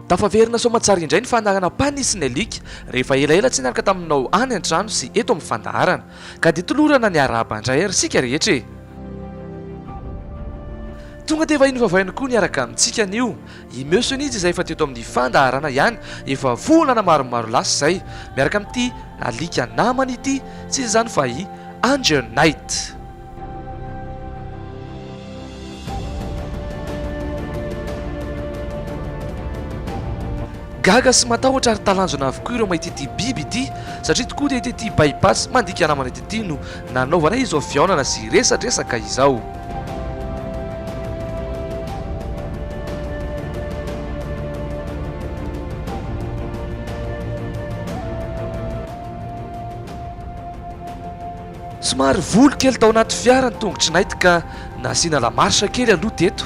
Tafaverina soamantsara indray ny fandaharana Pani sy ny alika rehefa elaela tsy niaraka taminao any an-trano sy eto amin'ny fandaharana. Ka dia tolorana ny arahaba indray ary isika rehetra e! Tonga dia vahiny vavainy koa niaraka amintsika anio I Meussenitz izay efa teto amin'ny fandaharana ihany efa volana maromaro lasa izay, miaraka amin'ity alika namany ity, tsy inona izany fa i Angel Knight. Gaga sy matahotra ary talanjona avokoa ireo mahita ity biby ity, satria tokoa dia ity tia by-pass mandika namana ity no nanaovana izao fihaonana sy resadresaka izao. Somary voly kely tao anaty fiara ny tongotry Night ka nasiana la marche kely aloha teto.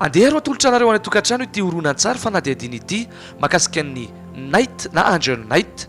Andeha aro atolotra anareo any an-tokantrano ity horonantsary fanadihadiana ity mahakasika ny Night na Angel Night.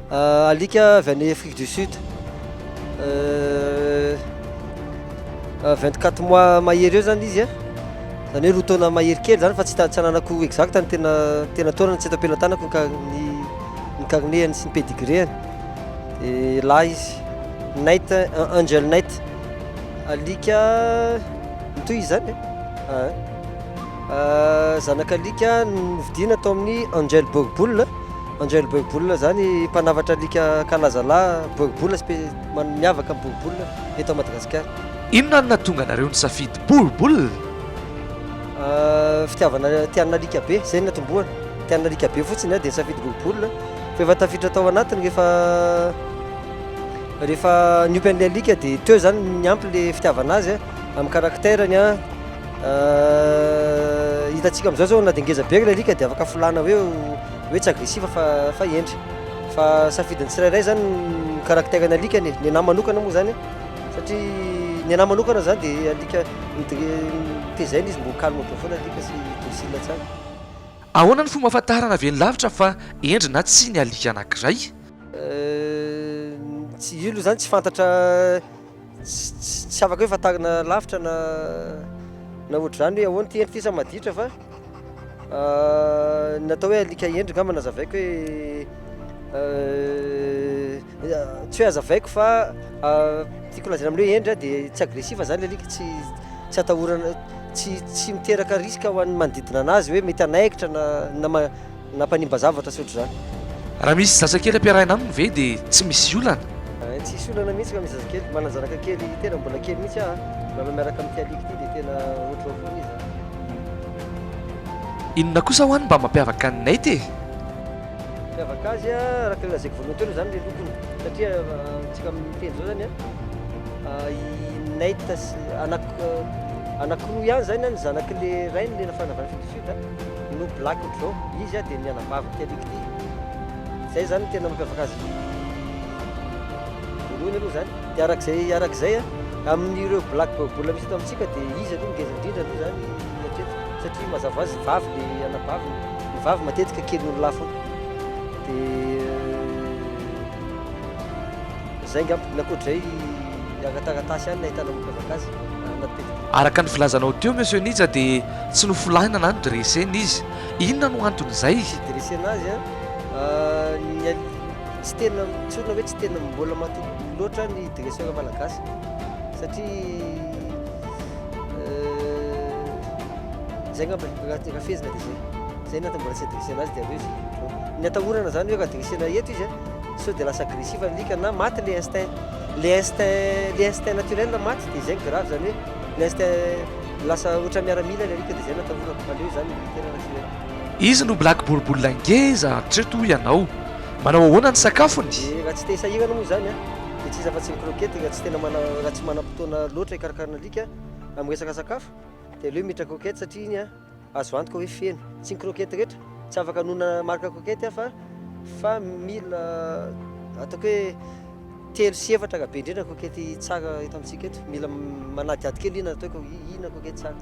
Ah, alika avy any Afrique du Sud. Euh, 24 mois mahery eo zany izy a. Zany hoe roa taona mahery kely zany fa tsy tsy ananako exact ny tena tena taona tsy eto am-pelatanako ny ny ny carnet-any sy ny pedigree-any. Dia lahy izy. Night, Angel Night. Alika mitohy izany e. Ah, zanak'alika novidiana tao amin'ny Angel Borboule. Angel Boribola izany mpanavatra alika kalazalahy Boribola spe miavaka amin'ny Boribola eto Madagasikara. Inona no nahatonga anareo nisafidy Boribola? Fitiavana tian'ny alika be, izay no natombohana. Tian'ny alika be fotsiny aho dia nisafidy Boribola. Fa efa tafiditra tao anatiny rehefa rehefa niompy an'ilay alika dia teo izany niampy ilay fitiavana azy amin'ny caractère-ny. Hitantsika amin'izao izao na dia ngeza be ary ilay alika dia afaka filana hoe ho. hoe tsy agressive fa fa hendry fa safidin'ny tsirairay zany ny caractère ny alikany e, ny anahy manokana moa zany satria ny anahy manokana zany de alika tezaina izy mbô calme be foana alika sy docile tsara. Ahoana ny fomba ahafantarana velon-lavitra fa hendry na tsia ny alika anankiray? Tsy io aloha zany tsy fantatra. Tsy afaka hoe fantarina lavitra na na ohatr'izany hoe ahoana ity endrika ity sa maditra fa ny atao hoe alika hendry ngamba nazavaiko hoe tsy hoe azavaiko fa tiako lazaina amin'ny hoe hendry a dia tsy agressif zany le alika tsy tsy atahorana tsy tsy miteraka risque ho an'ny manodidina anazy hoe mety hanaikitra na na Nampanimba zavatra sy ohatr'izany. Raha misy zazakely ampiarahina aminy ve dia tsy misy olana? Tsisy olana mihitsy raha misy zazakely. Manan-janaka kely tena mbola kely mihitsy aho. Milalao miaraka amin'ity alika ity dia tena ohatr'izao foana izy an! Inona kosa ho'a ny mba mampiavaka an'i Nate e? Mampiavaka azy an, araka ilay lazaiko voalohany teo aloha izany ilay lokony. Satria amintsika amin'ny teny izao izany an, i Nate sy, anaky, anakiroa ihany izany an, ny zanak'ilay rainy ilay nafanavany. Juda no Black Joe, izy dia ny anabavin' ity alika ity, izay izany no tena mampiavaka azy voalohany aloha izany, dia araka izay araka izay amin' ireo Black Joe Bull misy eto amintsika dia izy aloha ngeza indrindra aloha izany hatreto satria mazava ho azy vavy ny anabaviny, ny vavy matetika kely noho ny lahy foana, dia izay angamba, ny ankoatra izay agnataratasy ihany no ahitana mampiavaka azy. Araka ny filazanao teo Monsieur Nija dia tsy nofolaina na nodresena izy. Inona no anton'izay? Tsy dresena azy an! Ny al tsy tena tsorina hoe tsy tena mbola matoky loatra ny dresseur malagasy satria zay ngamba ny raha raha fehezina dia zay. Zay ny antony mbola tsy adressena azy dia avy eo izy no ny atahorana zany hoe raha dresena eto izy an sao dia lasa agressif alika na maty le instinct. Le instinct le instinct naturel maty de zay grave zany hoe le instinct lasa ohatra miaramila le alika de zay natahorako fa aleo zany militaire raha tsy hoe. Izy no black boribolina ngeza hatreto hoy ianao. Manao ahoana ny sakafony? Dia raha tsy te hisahirana moa izany an, dia tsy iza afa-tsy ny croquette raha tsy tena mana raha tsy manam-potoana loatra hikarakarana alika amin'ny resaka sakafo dia aleo mitra croquette satria iny an, Azo antoka hoe feno. Tsy ny croquette rehetra. Tsy afaka hanonona marque croquette aho fa mila ataoko hoe telo sy efatra raha be indrindra ny croquette tsara eto amintsika eto. Mila manadihady kely inona no ataoko hoe inona croquette tsara.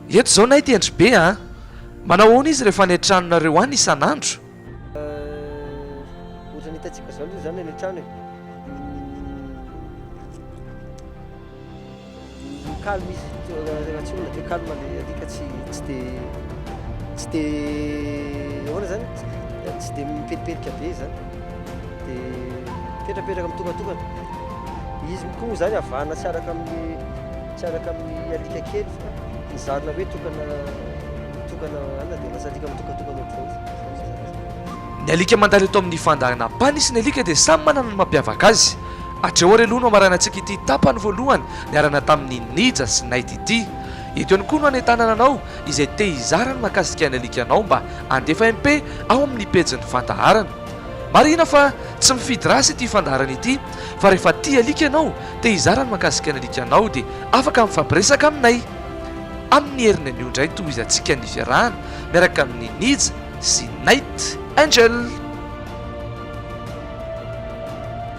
Eto izao nahy tendry be a! Manao ahoana izy rehefa any an-tranonareo any isan'andro? Ohatran'ny hitantsika izao aloha izany any an-trano e. Calme izy Ratsiona dia calme ilay alika tsy tsy dia tsy dia ahoana izany tsy dia mipelipelika be izany dia mipetrapetraka mitokantokana izy koa moa izany havana tsy araka amin'ny tsy araka amin'ny alika kely fa nizarina hoe tokana tokana anona dia lasa alika mitokantokana ohatr'izao ny alika mandalo eto amin'ny fandaharan'Ampanihy sy ny alika dia samy manana ny mampiavaka azy Hatreo ary aloha no hamarainantsika ity tapany voalohany niarana tamin'i Nija sy Nate ity. Eto ihany koa no hanentanana anao izay te hizara ny mahakasika ny alikanao mba handefa MP ao amin'ny pejin'ny fandaharana. Marihina fa tsy mifidy race ity fandaharana ity fa rehefa tia alika ianao, te hizara ny mahakasika ny alikanao dia afaka mifampiresaka aminay. Amin'ny heriny anio indray no tohizantsika ny fiarahana miaraka amin'i Nija sy Nate. Angel.